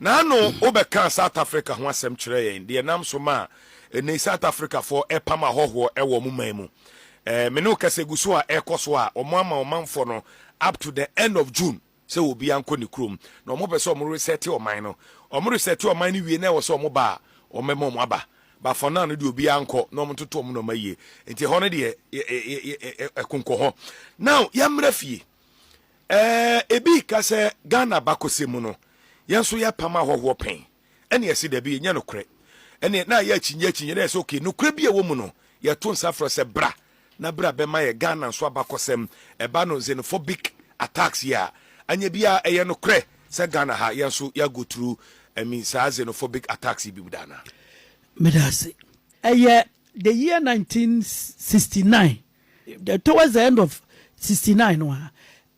Naano wobɛkaa South Africa ho asɛm kyerɛɛ yɛn, deɛ ɛnam so maa ɛnnɛyi South Africafoɔ ɛrepam ahɔhoɔ wɔ wɔn man mu. Ɛɛ, me ne wo kasa egu so a ɛrekɔ so a, wɔn ama wɔn manfoɔ no up to the end of June sɛ obiara nkɔ ne kurom, na wɔn pɛ sɛ wɔn resɛte ɔman no. Wɔn resɛte ɔman no wie na ɛwɔ sɛ wɔn ba a, wɔn bɛma wɔn aba. But for now no deɛ obiara nkɔ na wɔn ntoto wɔn nneɛma yie. Nti ɛhɔ no deɛ, yɛ, yɛ, yɛ, yɛ, yɛ, ɛkonkɔ hɔ. Now, yɛmmra fie. Ɛɛ ebi reka sɛ Ghana abakɔsɛm mu no yɛn nso yɛpam ahɔhoɔ pɛn ɛne yɛse dabi ɛnyɛ nokorɛ ɛneɛ na ayɛ akyinnye akyinnye na yɛse ok nokorɛ bi a ɛwɔ mu no yɛto nsa frɛ sɛ bra na bra bɛma yɛ Ghana nso abakɔsɛm ɛba no xenophobic attacks yi a anyɛ bi a ɛyɛ nokorɛ sɛ Ghana ha yɛn nso yɛ go through I mean saa xenophobic attacks yi bi mu da anaa. Meda ase. Ɛyɛ the year 1969. Towards the end of sixty nine no a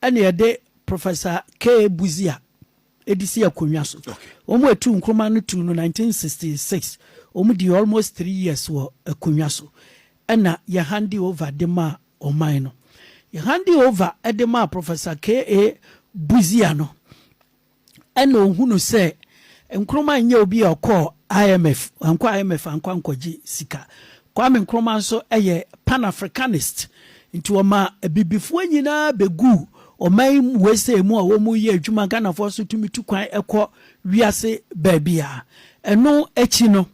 ɛna yɛde Professor K. Busia de si akonnwa so. Wɔn a etu Nkrumah no tuu no nineteen sixty six. Wɔn dii almost three years wɔ akonnwa so ɛna yɛ hande over de maa ɔman no. Yɛ hande over de maa Professor K. A. Busia no, ɛna ohunu sɛ Nkrumah nyɛ obi a ɔkɔɔ IMF, wankɔ IMF ankɔ ankɔgye sika. Kwame Nkrumah nso yɛ Pan-Africanist, nti wɔma abibifoɔ nyinaa bɛguu ɔman yi mu, USA mu a wɔyɛ adwuma, Ghanafoɔ nso tumi tu kwan kɔ wiase baabiara. Ɛno akyi no,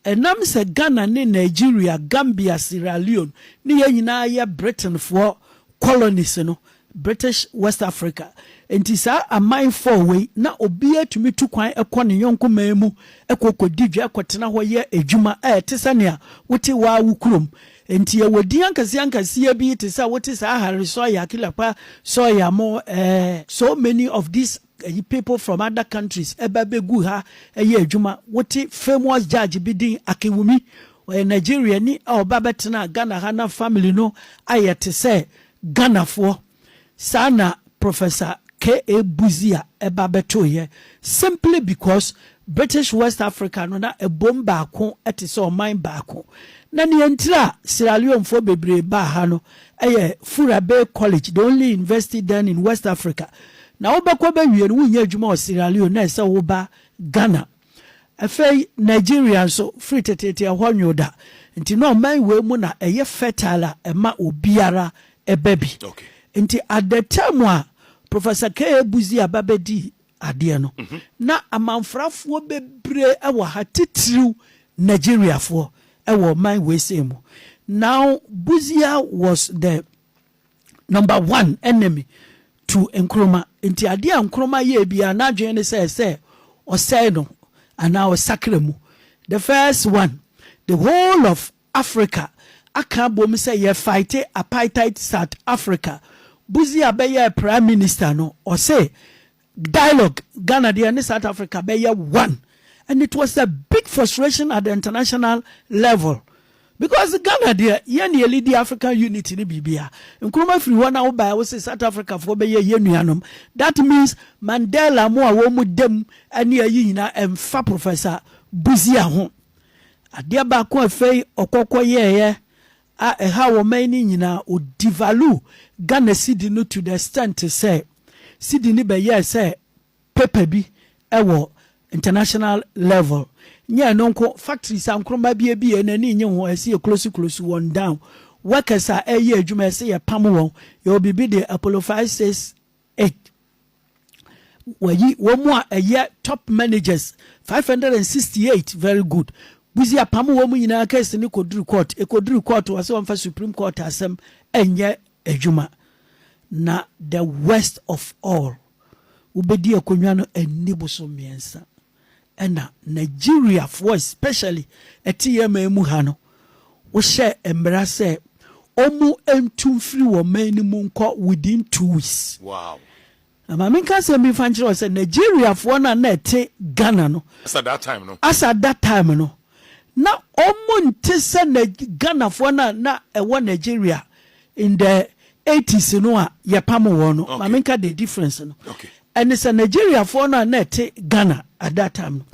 ɛnam sɛ Ghana ne Nigeria, Gambia, Sierra Leone ne yɛn nyinaa yɛ Britainfoɔ colonies no, British West Africa. Enti saa aman four wei, na obiara tumi tu kwan kɔ ne yɔnko man mu kɔ kɔdi dwa, kɔtena hɔ yɛ adwuma a ɛte sɛ nea wote wo ara wo kurom. Enti yɛwɔ din ankaseankaseɛ bi te sɛ wote saa Harry Sawyer, Killer Pa Sawyer mo, eh, so many of these. Ɛyi people from other countries ba bɛgu ha yɛ adwuma. Wote famous judge bi din Akinwumi, ɔyɛ Nigeriani a ɔba bɛtenaa Ghana ha na family no ayɛ te sɛ Ghanafoɔ. Saa na Professor KA. Busia ba bɛtoeɛ simply because British West Africa no na ɛbom baako te sɛ ɔman baako. Na nea ntira Sierra Leonefoɔ bebree baa ha no, Ɛyɛ Fura Bay College, the only university then in West Africa. Na wobɛkɔ bɛwie no, wonyɛ adwuma wɔ Sierra Leone, na ɛsɛ sɛ woba Ghana. Afei Nigeria nso, firi teteete ɛhɔ nwo da. Nti na ɔman wei mu na ɛyɛ fertile a ɛma obiara ba bi. Nti at the time a Professor K. A. Busia ba bɛdii adeɛ no, na amanfrafoɔ bebree wɔ ha, titiriw Nigeriafoɔ wɔ ɔman weisei mu. Now Busia was the number one enemy to Nkrumah, nti adeɛ a Nkrumah yɛɛ biara n'adwene ne sɛ sɛ ɔsɛe no anaa ɔsakra mu. The first one, the whole of Africa aka abom sɛ yɛ fighte apaitite South Africa Buzi a bɛyɛɛ prime minister no ɔse dialogue Ghana deɛ ne South Africa bɛyɛ one and it was a big frustration at the international level because Ghana deɛ yɛn ne yɛlidi African unity ne biribia Nkrumah firi hɔ na wobaɛ wose South Africa foɔ bɛyɛ yɛn nuanom that means Mandela mo a wɔn mu dem ne ayi nyinaa ɛmfa Professor Buzi a ho Adeɛ baako a afei ɔkɔ kɔ yɛɛyɛ a ɛhaw ɔman yi no nyinaa, ɔ devalue Ghana cedi no to the extent sɛ cedi no bɛyɛɛ sɛ paper bi wɔ international level. Nyɛ ɛno nko, factories a nkrɔma bi abie no ani nnye ho, ɛse yɛ close close wɔn down. Workers a ɛreyɛ adwuma ɛse yɛ pam wɔn, yɛwɔ biribi de apollo 5, 6, Eg. Wɔayi wɔn a ɛyɛ top managers five hundred and sixty eight, very good, Buzi apamo wɔn nyinaa case no kɔduru court, ɛkɔduru court wɔse wɔmfa supreme court asɛm nyɛ adwuma. Na the worst of all, wobɛdi akonnwa no anni boso mmiɛnsa. na Nigeriafoɔ especially ɛte yɛn man mu ha no, wohyɛɛ mmara sɛ wɔntu mfiri wɔn man no mu nkɔ within two weeks. Wow. Na ma menka asɛm bi mfa nkyerɛ wo sɛ Nigeriafoɔ no a na ɛte Ghana no. As at that time no. As at that time no. na ɔmo nte sɛ Nag Ghanafoɔ no a na ɛwɔ Nigeria in the eighties no a yɛpamoo wɔn no. Ma menka the difference no. Ɛne sɛ Nigeriafoɔ no a na ɛte Ghana at that time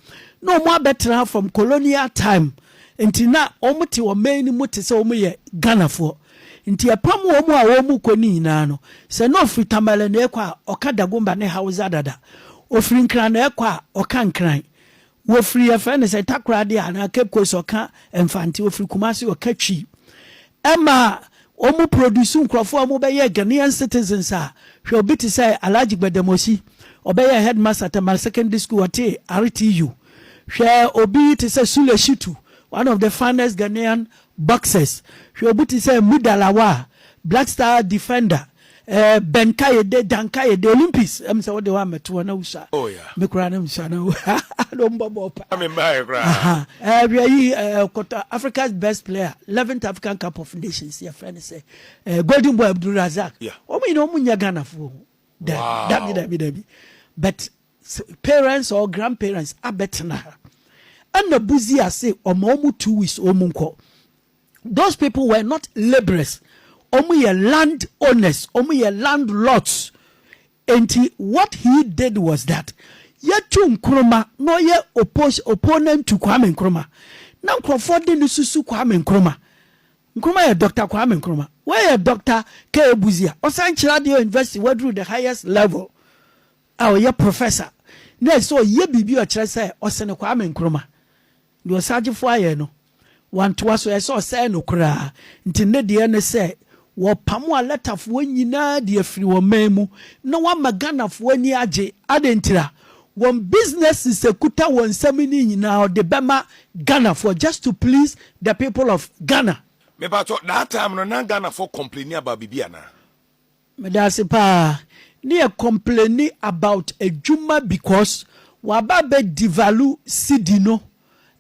no, na ɔmo abɛtra ha from colonial time nti na ɔmo te ɔman no mu te sɛ ɔmo yɛ Ghanafoɔ. Nti yɛpam ɔmo a ɔmo kɔ no nyinaa no, sɛ na ɔfiri Tamale na ɛkɔ a, ɔka Dagomba ne Hausa dada. Ɔfiri Nkran na ɛkɔ a, ɔka Nkran. Wɔfiri yɛfrɛ no sɛ Takoradi anaa Cape Coast ɔka Mfante, wɔfiri Kumasi ɔka Twi. Ɛma wɔn produce nkurɔfoɔ a wɔbɛyɛɛ Ghanaian citizens a, hwɛ obi te sɛ Alhaji Gbademosi, ɔbɛyɛɛ headmaster Tamale Secondary School, ɔtee RTU. Hwɛ obi te sɛ Sule Shitu, one of the finest Ghanaian boxers. Hwɛ obi te sɛ Muda Lawal, Black Star defender. Eh bɛ nkaeɛ de da nkaeɛ de Olympics ɛm sɛ wode hɔ a mɛto hɔ na wusua oh yeah me koraa ne msua no na ɔmbɔ bɔɔ paa me mbaeɛ koraa eh hwɛ yi eh kɔtɔ Africa's best player 11th African Cup of Nations yɛfrɛ no sɛ eh Golden Boy Abdul Razak yeah wɔn nyina wɔn nyɛ Ghanafoɔ ho dabi dabi dabi dabi but parents or grandparents abɛtena ha ɛna buzi ase ɔma wɔn two weeks wɔn nkɔ those people were not labourers wɔn yɛ land owners wɔn yɛ landlords nti what he did was that yɛtu nkroma na ɔyɛ oppose opponent to kwame nkroma na nkurɔfoɔ de ne susu kwame nkroma nkroma yɛ doctor kwame nkroma wɔyɛ doctor k ebuzi a ɔsan kyerɛ adeɛ university waduru the highest level a ɔyɛ professor na ɛsɛ ɔyɛ biribi ɔkyerɛ sɛ ɔsene kwame nkroma Deɛ ɔsagyefo ayɛ no, wantoa so, ɛyɛ sɛ ɔsɛee no koraa. Nti ne deɛ ne sɛ, wɔpamo Alɛtafoɔ nyinaa de afiri wɔn man mu na wɔama Ghanafoɔ ani agye. Adɛn ntira? Wɔn businesses a ɛkuta wɔn nsam no nyinaa wɔde bɛma Ghanafoɔ just to please the people of Ghana. Mepakyɛw, that time no na Ghanafoɔ complaini about biribi anaa? Medase paa ne yɛ complaini about adwuma because waba abɛ devalue cedi no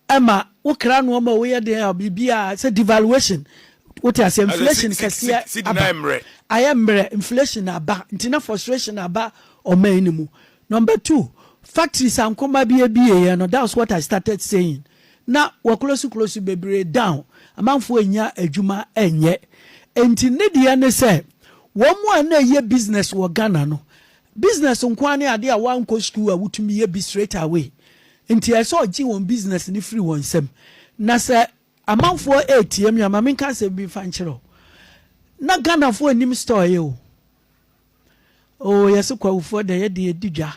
ɛma wo kra noɔma a woyɛ den a biribiaa sɛ devaluation wote aseɛ inflation kɛseɛ aba ayɛ mmerɛ inflation aba nti na frustration aba ɔman no mu number two factories a nkruma bi abieɛ no that's what I started saying na wɔaklosi klosi bebree down, amanfoɔ nnya adwuma nyɛ. Enti ne deɛ ne sɛ wɔn a na ɛyɛ business wɔ Ghana no, business nko ara ne adeɛ a woankɔ sukuu a wotumi yɛ bi straight away. Nti ɛsɛ ɔgye wɔn business no firi wɔn nsam. Na sɛ amanfoɔ retia me a, ma menka asɛm bi mfa nkyerɛ wo, na Ghanafoɔ nnim store yɛ o. Oh yɛse Kwahufoɔ da yɛde edi dwa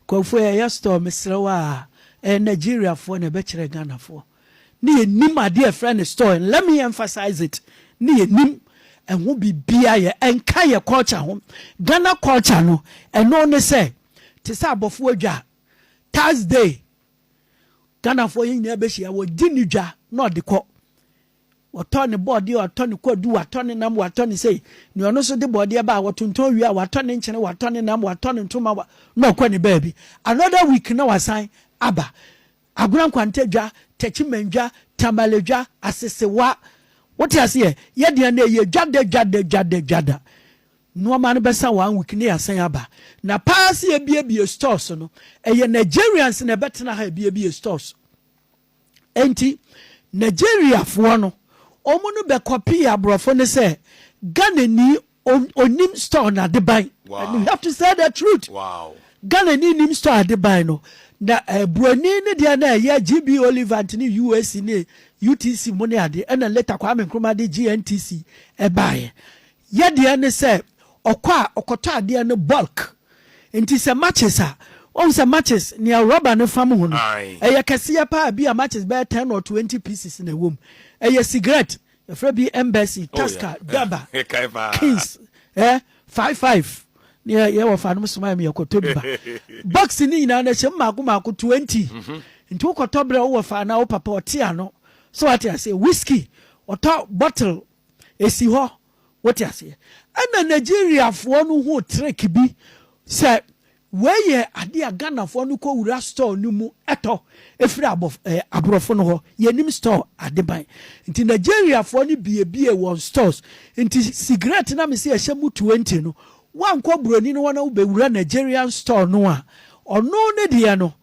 Kwahufoɔ yɛyɛ store mesrɛ wo aa ɛyɛ Nigeriafoɔ na ɛbɛkyerɛ Ghanafoɔ ne yɛnim adeɛ ɛfrɛ no store and let me emphasize it ne yɛnim ɛho biribiaa yɛ ɛnka yɛ culture ho Ghana culture no ɛno ne sɛ te sɛ abɔfoɔ dwa Thursday Ghanafoɔ yɛn nyinaa bɛhyia wɔgye ne dwa na ɔde kɔ Wɔtɔ ne bɔɔdeɛ, wɔatɔ ne kwadu, wɔatɔ ne nam, wɔatɔ ne sei. Nea ɔno nso de bɔɔdeɛ ba a, wɔtontɔn wie a, wɔatɔ ne nkyene, wɔatɔ ne nam, wɔatɔ ne ntoma, wa, na ɔkɔ ne baabi. Another week na wasan aba. Agona Nkwanta dwa, Techiman dwa, Tamale dwa, Asesewa. Wote aseɛ? Yɛ deɛ na ɛyɛ dwa da dwa da dwa da dwa da. Nnoɔma no bɛsa one week na yɛasan aba. Na paa sɛ yɛbiebie stores no, ɛyɛ Nigerians na ɛbɛtena ha ɛbiebie stores. Enti Nigeriafoɔ no, wɔn no bɛ kɔpii aborɔfo no sɛ Ghanani onim store na adeban. And you have to say the truth. Wow. Ghanani nim store adeban no. Na eh, Buroni ne deɛ na ɛyɛ GB Olivant ne UAC ne UTC mu ne ade. Ɛna later Kwame Nkrumah de GNTC ɛbaeɛ. Yadeɛ ne sɛ ɔkɔ a ɔkɔtɔ adeɛ no bulk nti sɛ matches a wahu sɛ matches nea rubber no fam ho no ɛyɛ kɛseɛ paa bi a matches bɛyɛ ten or twenty pieces na ɛwɔ mu ɛyɛ cigarette yɛfrɛ bi embassy oh, taska daba kings eh, five five ne yɛwɔ fa nom soma mi yɛkɔtɔ bi ba box ne nyinaa no ɛhyɛ mu maako maako twenty mhm. nti wokɔtɔ berɛ wowɔ fa na wo papa ɔte ano so wate aseɛ whisky ɔtɔ bottle ɛsi hɔ, wote aseɛ? Ɛna Nigeriafoɔ no huu trick bi sɛ wei yɛ adeɛ a Ghanafoɔ no kɔ wura store no mu tɔ ɛfiri aborɔfo no hɔ, yɛnim store adeban nti Nigeriafoɔ no biebiee wɔn stores nti sigaret no a mese ɛhyɛ mu twenty no woankɔ buroni no hɔ na wobɛwura Nigerian store no a ɔno ne deɛ no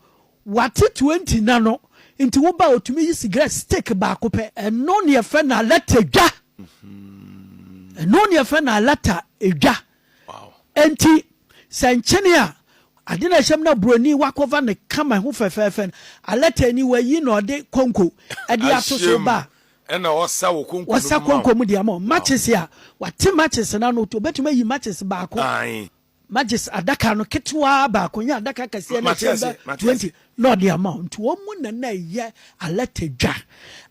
Wate twenty na no nti wo ba otumi yi cigarette stick baako pɛ. Ɛno ne yɛfrɛ no alata dwa. Ɛno ne yɛfrɛ no alata dwa. Enti sɛ nkyene a ade na ɛhyɛm na buroni wakɔva ne kama ho fɛfɛɛfɛ no alata ni wayi na ɔde konko ɛde ato so ba a ɛna ɔsa wɔ konko wɔsa konko mu de ama matches a wate matches na no obetumi ayi matches baako Magye's adaka no ketewaa baako nyɛ adaka akɛseɛ no ɛkyɛn bɛ twenty na ɔde ama wɔn nti wɔn mu na na ɛyɛ alɛte dwa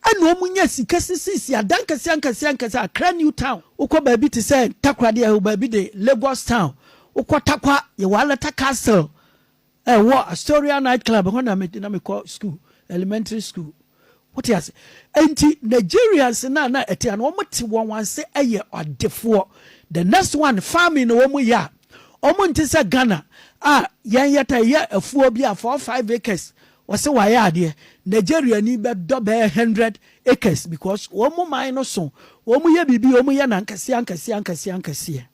ɛna wɔn nya sika sisisi adan kɛseɛ ankɛseɛ ankɛseɛ Accra New Town wokɔ baabi te sɛ Takoradi ɛwɔ baabi de Lagos Town wokɔ Takwa yɛwɔ Alata Castle Ɛwɔ Astoria Night Club hɔ na na mekɔ sukuu, elementary school. Wote ase? Enti Nigerians no a na ɛte a na wɔte wɔn ase yɛ adefoɔ. The next one, farming na wɔyɛ a, wɔnte sɛ Ghana a yɛn yɛtaa yɛ afuo bi a four five acres wɔse wɔayɛ adeɛ. Nigeriani bɛdɔ bɛyɛ hundred acres because wɔn man no so, wɔyɛ biribi, wɔyɛ no ankeseɛ ankeseɛ ankeseɛ ankeseɛ.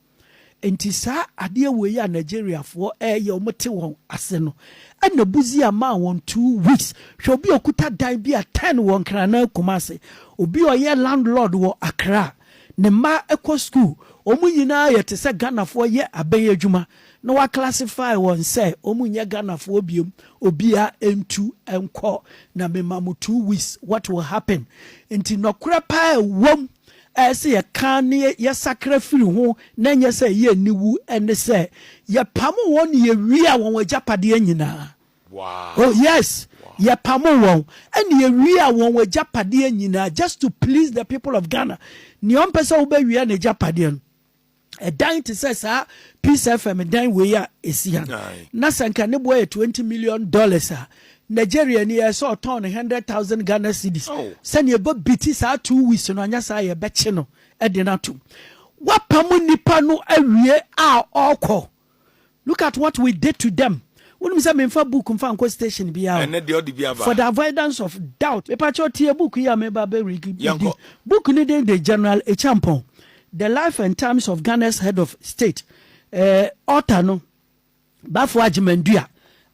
Enti saa adeɛ wei a Nigeriafoɔ ɛɛyɛ ɔmo te wɔn ase no ɛna Busia maa wɔn two weeks hwɛ obi a ɔkuta dan bi a ten wɔ Nkrana Kumasi obi a ɔyɛ land lord wɔ Accra ne mma ɛkɔ school ɔmo nyinaa yɛ te sɛ Ghanafoɔ yɛ abɛn adwuma na wa classify wɔn sɛ ɔmo nyɛ Ghanafoɔ biom obia ɛntu ɛnkɔ na me ma mo two weeks what will happen nti nɔkorɛ paa ɛwɔm a ɛsɛ sɛ yɛka na yɛsakra firi ho na ɛnyɛ sɛ ɛyɛ aniwu ne sɛ, Yɛpamoo wɔn na yewiaa wɔn agyapadeɛ nyinaa. Oh, yes! Yɛpamoo wɔn na yewiaa wɔn agyapadeɛ nyinaa, just to please the people of Ghana. Nea ɔmpɛ sɛ wobɛwia n'agyapadeɛ no, ɛdan te sɛ saa Peace FM dan wei a ɛsi ha no, na sɛ nka ne boɔ yɛ 20 million dollars a, Nigeria ni yɛ sɛ ɔtɔn no 100,000 Ghana cedis. Oh. Sɛnea ɛbɔ biti saa two weeks no anyɛ saa yɛbɛkye no de no atom. Wapam nnipa no awie a ɔkɔ. Look at what we did to them Wonim sɛ menfa book mfa nkɔ station biaa o Ɛnɛ deɛ ɔde bi aba For the avoidance of doubt Mepakyɛw tie book yi a meba bɛ read yi Yɛnkɔ. Book no din de General Acheampong, The Life and Times of Ghana's Head of State eh, Author no Baffour Agyeman-Duah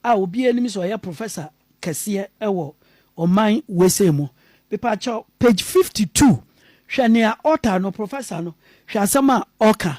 a obiaa nim sɛ ɔyɛ Professor kɛseɛ wɔ ɔman wesei mu Mepakyɛw page 52 hwɛ nea author no, professor no, hwɛ asɛm a ɔka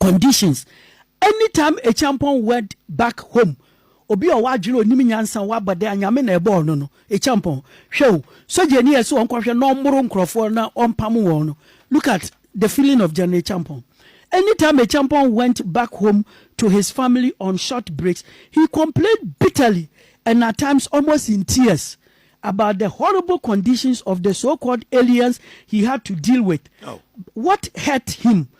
conditions anytime ekyampɔn wed back home obi ɔwɔ adwene onim nyansa ɔwɔ abɔde a nyame na ɛbɔɔ no no ekyampɔn hwɛ o sogya ni ɛsɛ ɔnkɔhwɛ na ɔmmoro nkorɔfoɔ na ɔmpamo wɔn no look at the feeling of general ekyampɔn anytime ekyampɔn went back home to his family on short breaks he complained bitterly and at times almost in tears about the horrible conditions of the so-called aliens he had to deal with. Oh. What hurt him?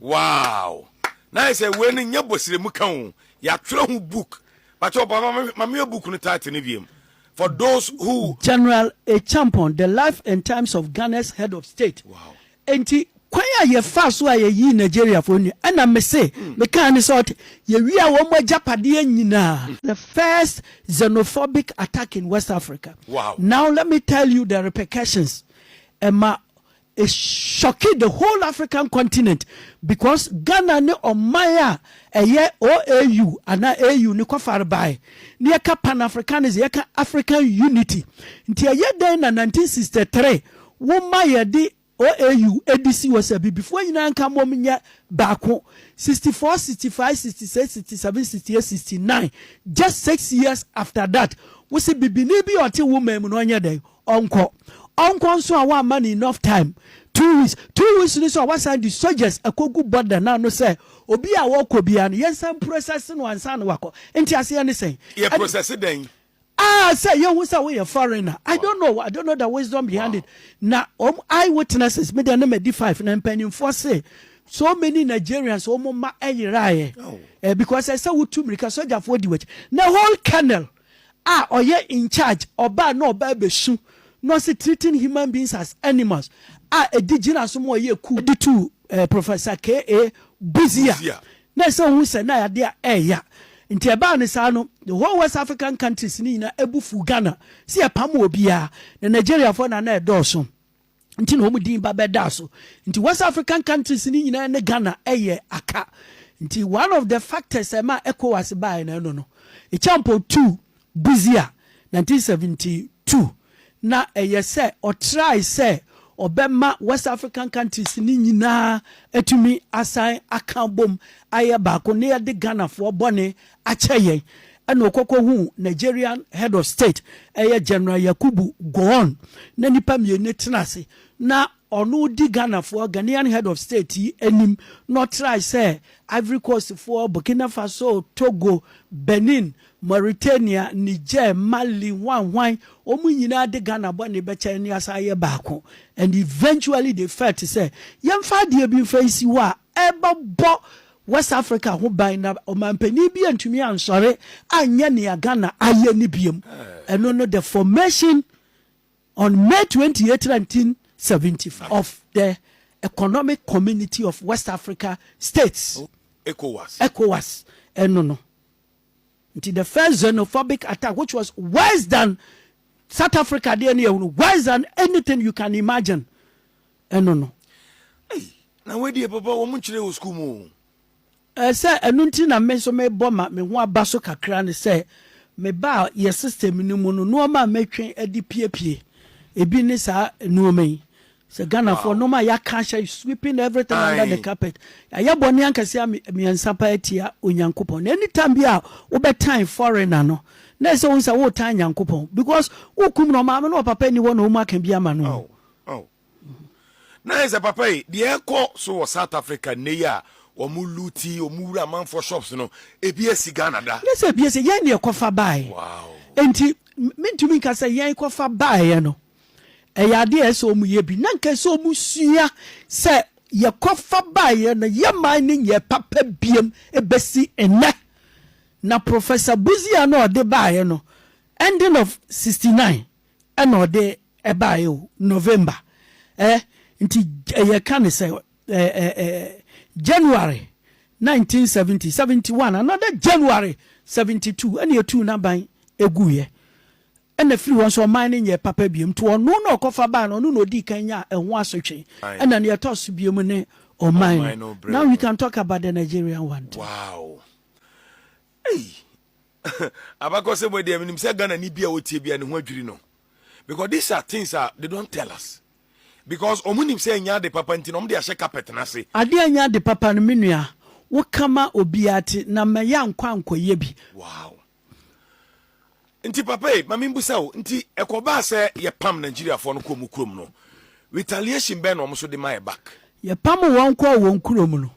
Wow na ayɛ sɛ wei no nyɛ bɔsiremu ka o yɛatwerɛ ho book bakyɛ ɔpapa ma meyɛ book no title no wiem for those who. General Acheampong, The Life and Times of Ghana's Head of State. Wow. Enti kwan a yɛfaa so a yɛyii Nigeriafoɔ nnuane, ɛna mese, mekaa ne sɛ ɔte, yɛwiaa wɔn agyapadeɛ nyinaa. The first xenophobic attack in West Africa. Wow. Now let me tell you the repercussions. Ɛma It shocked the whole African continent because Ghana ne ɔman a ɛyɛ OAU anaa AU no kɔfare bae. Na yɛka Pan-Africanism, yɛka African unity. Nti ɛyɛ dɛn na 1963 woma yɛde OAU di si hɔ sɛ Abibifoɔ nyinaa nka mmom nyɛ baako? 64, 65, 66, 67, 68, 69, just six years after that, wose Bibini bi a ɔte wo man mu no ɔnyɛ dɛn? Ɔnkɔ ɔnkɔ nso a wamma no enough time, two weeks, two weeks no nso a wasan de soldiers akɔgu border no ano sɛ obi a ɔrekɔ biara no yɛnsan mprosɛse no ansa na wakɔ. Nteaseɛ ne sɛn? Yɛ prosɛse dɛn? Ah, sɛ yɛhu sɛ woyɛ foreigner. I don't know, I don't know the wisdom behind it. Na wɔn eye witnesses, me deɛ na madi five, na mpanimfoɔ se so many Nigerians wɔn mma ɛyeraeɛ. Eh, because ɛsɛ wotu mmirika, sogyafoɔ di w'akyi. Na whole kernel. a ɔyɛ in charge ɔbaa na ɔbaa bɛsu na ɔse treating human beings as animals a ɛdi gyina so ma ɔyɛ ku de tuu Professor KA Busia na ɛsɛ ɔhu sɛ na adeɛ ɛɛya nti ɛbaa no saa no the whole West African countries no nyina ɛbu fuu Ghana sɛ yɛpam obiara na Nigeriafoɔ na na ɛdɔɔso. nti na wɔn din ba bɛdaa so nti west african countries ni nyinaa ne ghana ɛyɛ aka nti one of the factors ɛma ecowas baeɛ na ɛno no echampo tu buzia 1972 na ɛyɛ sɛ ɔtrae sɛ ɔbɛma west african countries ni nyinaa atumi asan aka bom ayɛ baako ne yɛde ghanafoɔ bɔne akyɛ yɛn ɛna ɔkɔkɔ huu Nigerian head of state ɛyɛ General Yakubu Gowon na nipa mmieni tena ase na ɔno di Ghanafoɔ Ghanaian head of state yi anim na ɔtrae sɛ Ivory Coast foɔ, Burkina Faso, Togo, Benin, Mauritania, Niger, Mali, hwan hwan wɔn nyinaa de Ghana bɔne bɛkyɛ yɛn ne yɛasan ayɛ baako and eventually they felt sɛ yɛmfa adeɛ bi mfa nsi hɔ a rebɛbɔ West Africa ho ban na ɔmanpanin bi antumi ansɔre anyɛ nea Ghana ayɛ no biom. Ɛno no the formation on May twenty eight nineteen seventy five of the Economic Community of West Africa States, ECOWAS, ɛno no. Nti the first xenophobic attack which was worse than South Africa deɛ no yɛ hunu worse than anything you can imagine ɛno no. Ei, na wɔadie papa wɔn nkyerɛ wɔ sukuu mu o. Ɛsɛ ɛno nti na me nso mebɔ ma me ho aba so kakra ne sɛ mebaa yɛ system no mu no nnoɔma a mɛtwe de piepie ebi ne saa nnoɔma yi Sɛ Ghanafoɔ nom a yɛaka ahyɛ sweeping everything under the carpet. Yɛayɛ bɔne ankɛseɛ mmiɛnsa paa atia Onyankopɔn. Na anytime bi a wobɛtan foreigner no, na ɛsɛ sɛ wohu sɛ woretan Nyankopɔn because wokum no, ɔmaame ne ɔpapa nni hɔ na wɔn aka bi ama no. Na ayɛ sɛ papa yi, deɛ ɛkɔ so wɔ South Africa nnɛ yi a wɔn luti, wɔn wura amanfoɔ shops no, ebi asi Ghana da. Nyɛ sɛ ebi asi, yɛn na yɛkɔfa baeɛ. Wow. Enti mentumi nka sɛ yɛn kɔfa baeɛ no. Ɛyɛ ade a ɛsɛ sɛ wɔyɛ bi, na anka ɛsɛ sɛ wɔsua sɛ yɛkɔfa baeɛ no, yɛmmae no nyɛɛ papa biom bɛsi nnɛ. Na Professor Buziah na ɔde baeɛ no, ending of sixty nine ɛna ɔde baeɛ o, November. Ɛ, nti yɛka no sɛ ɛ, ɛ, ɛ, January nineteen seventy, seventy one, another January seventy two ɛna yɛtuu n'aban ɛguiɛ. Ɛna firi hɔ nso ɔman no nyɛɛ papa bio, nti ɔno na ɔkɔfa bae no, ɔno na ɔdii kan nyaa ɛho asotwe. Ɛna nea ɛtɔ so bio ne ɔman no. Now we can talk about the Nigerian one too. Wow! Ei! Abakɔsɛm wei deɛ menim sɛ Ghanani bi a ɔtie bi a ne ho adwiri no because these are things a they don't tell us because wɔn nim sɛ ɛnyɛ ade papa nti na wɔn de ahyɛ carpet no ase. Adeɛ ɛnyɛ ade papa no me nua woka ma obiara ti na mɛyɛ ankɔ ankɔyɛ bi. Wow! nti papa yi ma membusa wo nti ɛkɔbaa sɛ yɛpam nigeriafoɔ no kɔɔ mu kurom no retaliation bɛn na wɔn nso de ma yɛ back Yɛpam wɔn kɔɔ wɔn kurom no,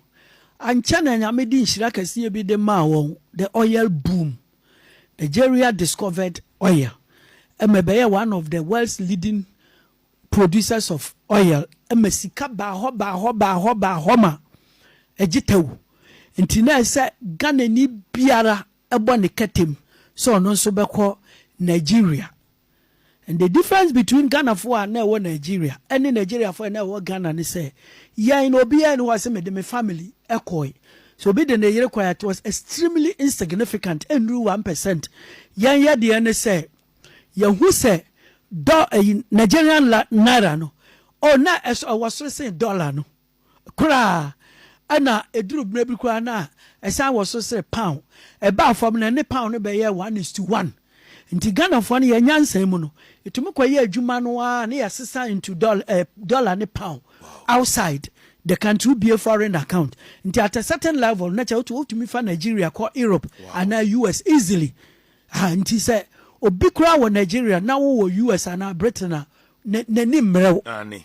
ankyɛ na Nyame de nhyira kɛseɛ bi de maa wɔn, the oil boom. Nigeria discovered oil ma ɛbɛyɛɛ one of the world's leading producers of oil ma sika baa hɔ baa hɔ baa hɔ baa hɔ ma ɛgye tɛw nti na ɛsɛ Ghanani biara bɔ ne kɛtem sɛ ɔno nso bɛkɔ Nigeria. And the difference between Ghanafoɔ a na ɛwɔ Nigeria ne Nigeriafoɔ a na ɛwɔ Ghana ne sɛ, yɛn no obiara nni hɔ a sɛ mede me family kɔe. Sɛ obi de ne yere kɔe a, it was extremely insignificant, ɛnnuru one percent. Yɛn yɛ deɛ ne sɛ, yɛhu sɛ dɔ, Nigerian naira no, oh, na ɛwɔ soro sen dollar no. koraa ɛna ɛduru berɛ bi koraa na ɛsan wɔ so sɛ pound ɛbaa fam no ɛne pound no bɛyɛɛ one is to one nti Ghanafoɔ no yɛn nyansa mu no yɛtumi kɔyɛ adwuma no ara ne yɛsesa into dollar, eh, dollar ne pound outside the country wobie foreign account nti at a certain level na kyɛ wotumi fa Nigeria kɔ Europe anaa US easily ha nti sɛ obi koraa wɔ Nigeria na wowɔ US anaa Britain a n'ani mmerɛw.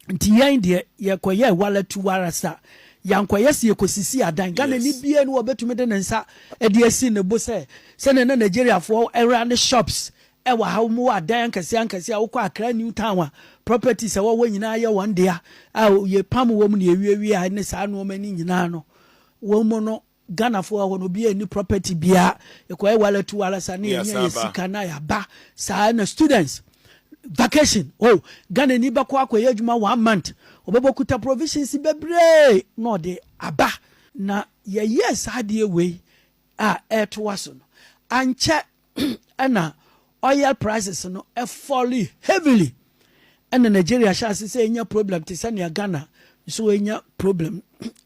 Nti yɛn deɛ yɛkɔyɛɛ walatu warasa. Yɛankɔyɛ sɛ yɛkɔsisii adan. Ghanani biara ni hɔ a ɔbɛtumi de ne nsa de asi ne bo sɛ sɛdeɛ na Nigeriafoɔ ra ne shops wɔ ha, wɔwɔ adan ankɛseɛ ankɛseɛ a wokɔ Accra New Town a, properties a ɛwɔ hɔ nyinaa yɛ wɔn dea a yɛpam wɔn na yɛwiawia ne saa nnoɔma no nyinaa no, wɔn mu no Ghana foɔ hɔ no obiaa nni property biaa yɛkɔyɛ wala tu wala saa na yɛnya yɛ sika na yɛaba saa na students vacation oh Ghana ni bɛkɔ akɔyɛ adwuma one month ɔbɛbɔ ɔkuta provisions bebree na ɔde aba na yɛyɛɛ saa adeɛ wei a ɛɛtoa so no ankyɛ na oil prices no fall heavily na Nigeria hyɛ ase sɛ enya problem te sɛ nea Ghana nso anya problem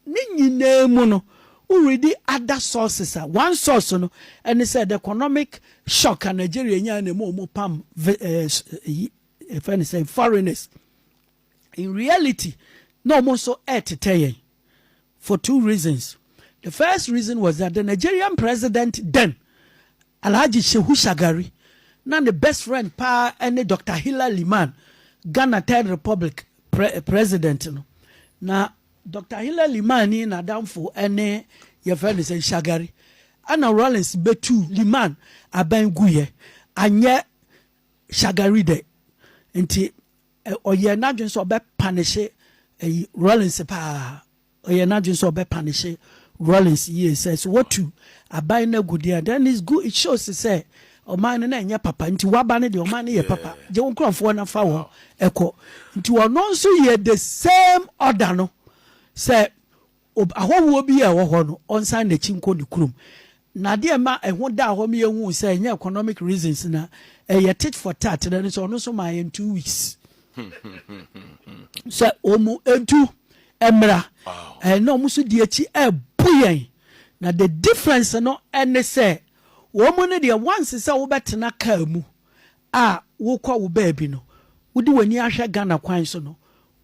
ne nyinaa mu no wo readi other sources a one source no ɛne sɛ the economic shock a Nigeria nyaa na ɛma wɔn pam ɛyi ɛfɛ ne sɛ foreigners In reality, na wɔn nso retetɛ yɛn for two reasons. The first reason was that the Nigerian president then, Alhaji Shehu Shagari, na ne best friend paa ne Doctor Hilla Liman, Ghana Third Republic pre president no. Na Doctor Hilla Liman ni n'adamfo ne yɛfrɛ no sɛ Shagari. Ɛna Rawlings betu Liman abɛn guiɛ, anyɛ Shagari dɛ. Nti Ɛ, ɔyɛɛ n'adwene sɛ ɔbɛ panehye ɛyi, Rawlings paa. Ɔyɛɛ n'adwene sɛ ɔbɛ panehye Rawlings yie sɛ, sɛ wɔtu aban no agu deɛ a, then it's good, it shows sɛ ɔman no na ɛnyɛ papa, nti w'aba no deɛ, ɔman no yɛ papa, gye wo nkorɔfoɔ na fa wɔn kɔ. Nti ɔno nso yɛɛ the same order no, sɛ Ob, Ahɔhoɔ biara a ɛwɔ hɔ no, ɔnsan n'akyi nkɔ ne kurom. Na adeɛ a ɛma ɛho daa hɔ ma yɛhuu sɛ ɛnyɛ economic reasons na ɛyɛ tit for tat no ne sɛ ɔno nso maa yɛn two weeks sɛ wɔn ntu mmra. Ɛɛ, na wɔn nso di akyi ɛrebu yɛn. Na the difference no ne sɛ wɔn no deɛ once sɛ wobɛtena kaa mu a wokɔ wo baabi no, wode w'ani ahwɛ Ghana kwan so no,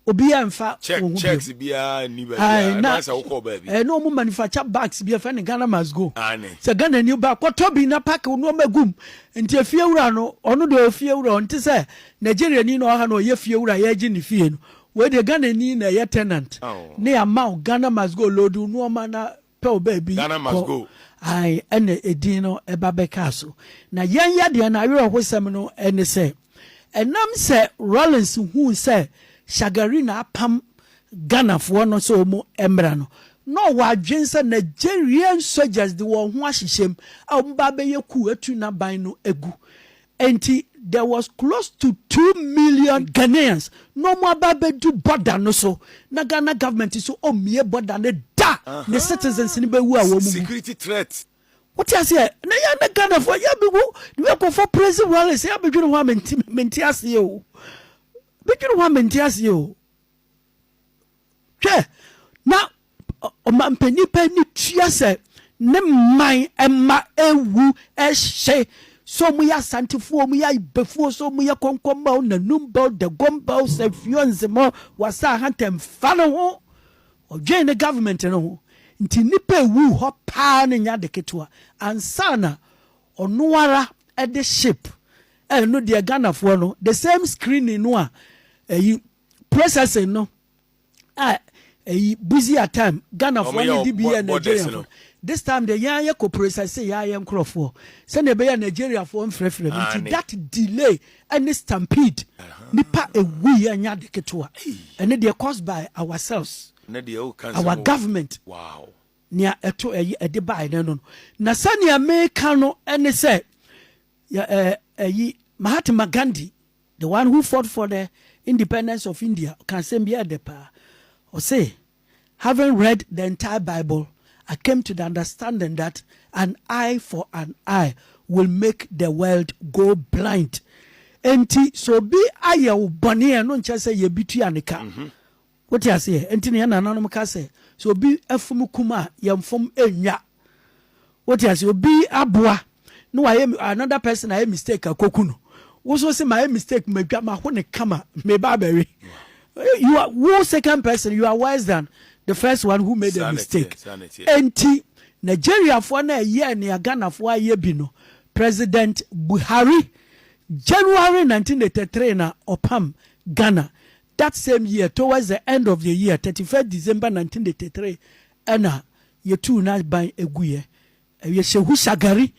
obiara mfa Check, wɔn ho biom. checks biara nni baabi Ae, a, na ɛbɛyɛ sɛ wokɔɔ baabi. ɛɛ na wɔn manufacture bags bi ɛfɛ no Ghana must go. Aane. Sɛ Ghana ni ba kɔtɔ bi na pack wo nnoɔma gu mu. Nti efie wura no, ɔno deɛ ɔyɛ fie wura, ɔnte sɛ Nigerian ni na ɔwɔ ha na ɔyɛ fie wura yɛregye ne fie no. Wei deɛ Ghana ni na ɛyɛ tenant Aw. na yɛama wo Ghana must go load wo nnoɔma na pɛ wo baabi Ghana must kɔ go. Ae ɛna edin no ɛba bɛkaa so. Na yɛn yadeɛ no awerɛhosɛm no ɛne sɛ, ɛnam sɛ Rawlings huu sɛ Shagari na apam Ghanafoɔ no sɛ wɔn mmra no, na ɔwɔ adwene sɛ Nigerian soldiers de wɔn ho ahyehyɛ mu a wɔbɛba abɛyɛ coup atu n'aban no agu. Enti there was close to two million Ghanaians na wɔn aba abɛdu border no so na Ghana government nso ɔmmie border no da ne citizens no bɛwu a wɔn mu Security threat. Wote aseɛ? Na yɛn na Ghanafoɔ yɛ bɛgu ne bɛ kɔfɔ presi rallies yɛ bɛdwene ho a mente mente aseɛ o bɛdwene ho a mente aseɛ o hwɛ na ɔmampanin pɛ no tua sɛ ne man mma awu hye, sɛ wɔyɛ Asantefoɔ, wɔyɛ Ayibefoɔ, sɛ wɔyɛ Kɔnkɔnba o, Nanumba o, Dagomba o, Sɛfio, Nzema o, Wasa Ahanta, mfa ne ho. Ɔdwen ne government no ho. Nti nnipa awu hɔ paa no nyɛ ade ketewa. Ansa na ɔno ara de ship, ɛno deɛ Ghanafoɔ no, the same screening no a ɛyi, processing no, a ɛyi busia time Ghana foɔ ne di bi yɛ Nigeria foɔ this time de yɛn ayɛ kopro sɛ se yɛ ayɛ nkorɔfoɔ sɛdeɛ ɛbɛyɛ Nigeria foɔ mfrɛfrɛ no nti that delay ɛne stampede nipa ewu yɛ nya de ketewa ɛne deɛ caused by ourselves our government wow nea ɛto ɛyɛ ɛde bae no no na sɛnea meka no ɛne sɛ ɛyi Mahatma Gandhi The one who fought for the independence of India, ɔka asɛm bi a ɛyɛ dɛ paa. Ɔse, Having read the entire Bible, I came to the understanding that an eye for an eye will make the world go blind. Enti sɛ obi ayɛ wo bɔne a, ɛno nkyerɛ sɛ yɛ bi tua ne ka. Wote aseɛ? Enti na yɛn nananom ka sɛ, sɛ obi fom kum a, yɛmfom nnwa. Wote aseɛ? Obi aboa na wayɛ, another person ayɛ mistake a, kɔku no. Wo nso wose, mayɛ mistake, madwa, maho no kama, mereba abɛwe. You are, wo second person, you are worse than the first one who made a mistake. Enti, Nigeriafoɔ no a ɛyɛɛ nea Ghanafoɔ ayɛ bi no, President Buhari, January 1983 na ɔpam Ghana. That same year towards the end of the year, thirty first December nineteen eighty three, ɛna yɛtuu n'aban guiɛ. Ɛyɛ Shehu Shagari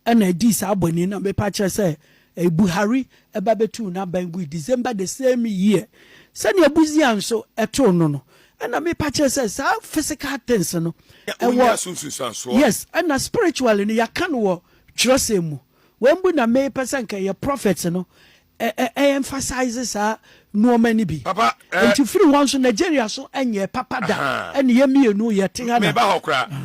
ɛna ɛdii saa bɔne yi na mepa kyerɛ sɛ ɛyɛ Buhari ɛba bɛtuu n'aban gui December the same year. Sɛdeɛ Busia nso ɛtoo no no, ɛna mepa kyerɛ sɛ saa physical things no ɛwɔ, yes, ɛna spiritually no yɛaka no wɔ twerɛsɛm mu. Wei mpo na mepɛ sɛ nka ɛyɛ prophets no ɛ emphasize saa nnoɔma no bi. Papa eh. Nti firi hɔ nso Nigeria so ɛnyɛɛ papa da. Ahaa. Ɛne yɛ mmienu yɛ te ha na. Meba hɔ koraa.